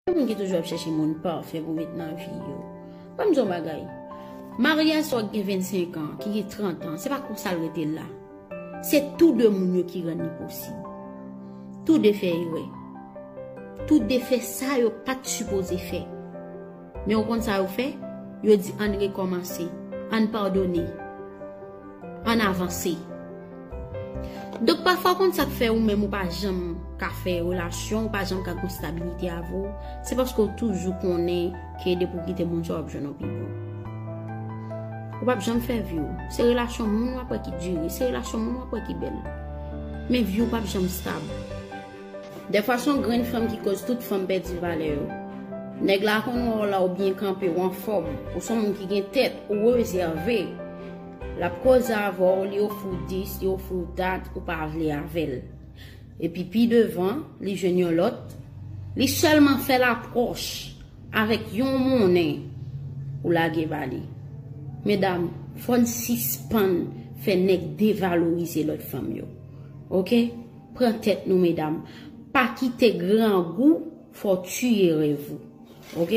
Gen moun ki toujou ap chèche moun pafè pou met nan vi yo. Ban m di w yon bagay, maryaj sa w gen 25 an, ki gen 30 an, se pa konsa l rete la. Se tou de moun yo ki rann li posib. Tou de fè erè. Tou de fè sa yo pa t sipoze fè. Men ou konn sa yo fè? Yo di ann rekòmanse, ann padone, ann avanse. Donk pafwa ou konn sa k fè ou menm ou pa janm ka fè relasyon, ou pa janm ka gen yon stabilite avè w, se paske ou toujou konnen ke depi ou kite moun sa w ap jwenn yon pi bon. Ou pap janm fè vi w. Se relasyon moun w ap wè ki dire, se relasyon moun w ap wè ki bèl. Men vi w pap janm stab. Dèfwa son grenn fanm ki koz tout fanm pèdi valè yo. Nèg la konn wè w la ou byen kanpe, ou anfòm, ou son moun ki gen tèt, ou rezève. Lap koze avè w, li ofri w dis, li ofri w dat, ou pa vle avè l. Epi pi devan, li jwenn yon lòt, li sèlman fè lapròch avèk yon monnen, ou lage ba li. Medam, fòn sispann fè nèg devalorize lòt fanm yo. Ok. Pran tèt nou medam. Pa kite grangou fè w tiye rèv ou. Ok.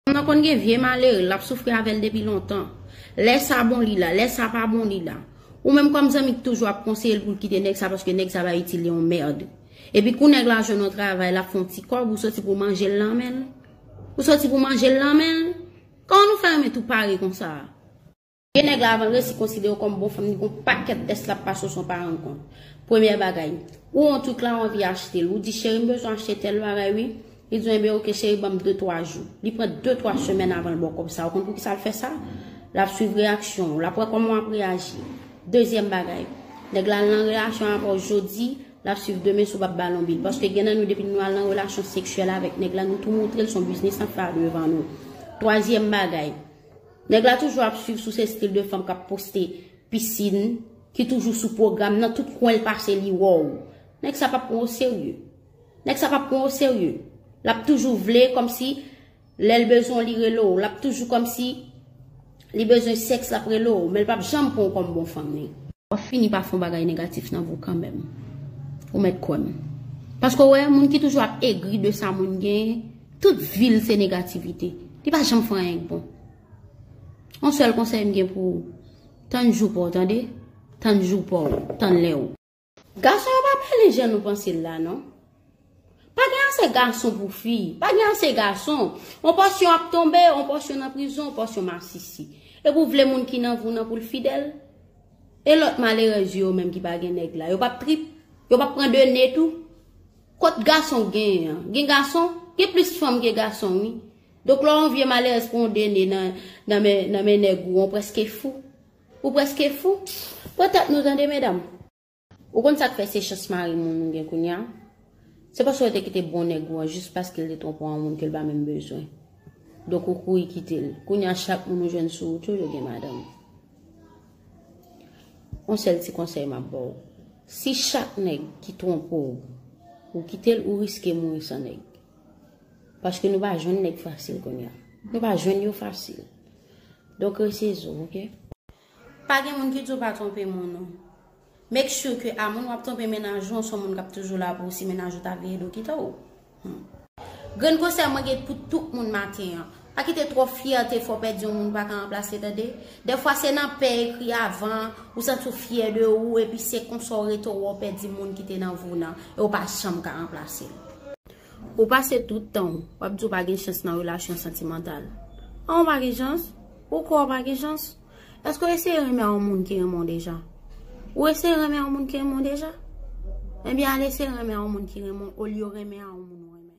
Fanm nan konn gen vye malere lap soufri avèl depi lontan. Lè sa bon li la, lè sa pa bon li la. Ou menm kòm zanmi ki toujou ap konseye l pou l kite nèg sa paske nèg sa pa itil li yon merd. Epi kou nèg la jwenn yon travay lap fè yon ti kòb ou soti pou w manje l nan men l. Ou soti pou w manje l nan men l. Kòman nou fè renmen tou pare konsa a. Gen nèg la avan l resi konsidere w kòm bon fanm li gen yon pakèt tès lap pase w san w pa rann kont. Premyè bagay, ou wè yon truk la ou anvi achte l, ou di cheri m bezwen achte tèl bagay wi, li di w enben ok cheri ban m de twa jou. Li pran de twa semèn avan l ba w kòb sa, ou konn poukisa l fè sa? Lap swiv reyaksyon w, lap wè kòman wap reyaji. Dezyèm bagay, nèg la al nan relasyon avè w jodi, lap swiv demen si w pap ba l yon bil. Paske gen nan nou depi nou al nan relasyon seksyèl avèk nèg la nou tou moutre l se yon biznis nap fè a devan nou. Twazyèm bagay. Nèg la toujou ap swiv sou se stil de fanm kap poste piscine ki toujou sou pwogram nan tout kwenl pase li wèw nèg sa pap pran w serye nèg sa pap pran w serye lap toujou vle kòmsi lèl bezwen w li rele w lap toujou kòmsi li bezwen sèks lap rele w menl pap janm pran w kòm bon fanm li. Wap fini pa fon bagay negatif nan vo kanmenm. Ou met kwem. Paske ou wè moun ki toujou ap egri de sa moun gen, tout vil se negativite. Li pa janm fon anyen k bon. On sel konsey m gen pou ou, tann jou paw tande, tann jou paw, tann lè ou. Gason yo pa pale jan nou panse la non. Pa gen ase gason pou fi. Pa gen ase gason. On pòsyon ap tonbe, on pòsyon nan prizon, on pòsyon masisi. Epi ou vle moun ki nan vou nan pou l fidèl? E lòt malerèz yo yo menm ki pa gen nèg la? Yo pap trip? Yo pap pran de ne tou? Kot gason gen an? Gen gason? Gen plis fanm ke gason wi. Donk lè on vye malerèz pran on de ne nan men nèg ou, on prèske fou. Ou prèske fou? Pran tèt nou tande medam. Ou konn sak fè se chans mari moun ou gen kounya se paske ou te kite bon nèg ou an jis paskel te twonpe w an moun kel pa menm bezwen donk ou kouri kitel kounya chak moun ou jwenn sou wout ou yo gen madanm on sèl ti konsèy map baw si chak nèg ki twonpe w ou kitel ou riske mouri san nèg paske nou pa jwenn nèg fasil kounya nou pa jwenn yo fasil donk rese zo ok. Pa gen moun ki di w pa twonpe moun ou. Make sure ke a moun wap twonpe mennaj ou an son moun kap toujou la pou ou si mennaj ou ta veye do kite w. Humm. Grenn konsèy mwen gen pou tout moun maten an. Pa kite twòp fyète fè w pèdi yon moun ou pa ka ranplase tande. Dèfwa se nan pè ekri avan, ou santi w fyè de ou epi se konsa w rete ou wè w pèdi moun ki te nan vi w nan e w pa janm ka ranplase l. Ou pase tout tan ou, wap di ou pa gen chans nan relasyon santimantal. An ou pa gen chans? Ou kwè ou pa gen chans? Eske ou eseye renmen yon moun ki renmen w deja? Ou eseye renmen yon moun ki renmen w deja? Ebyen al eseye renmen yon moun ki renmen w olye w renmen yon moun ou renmen.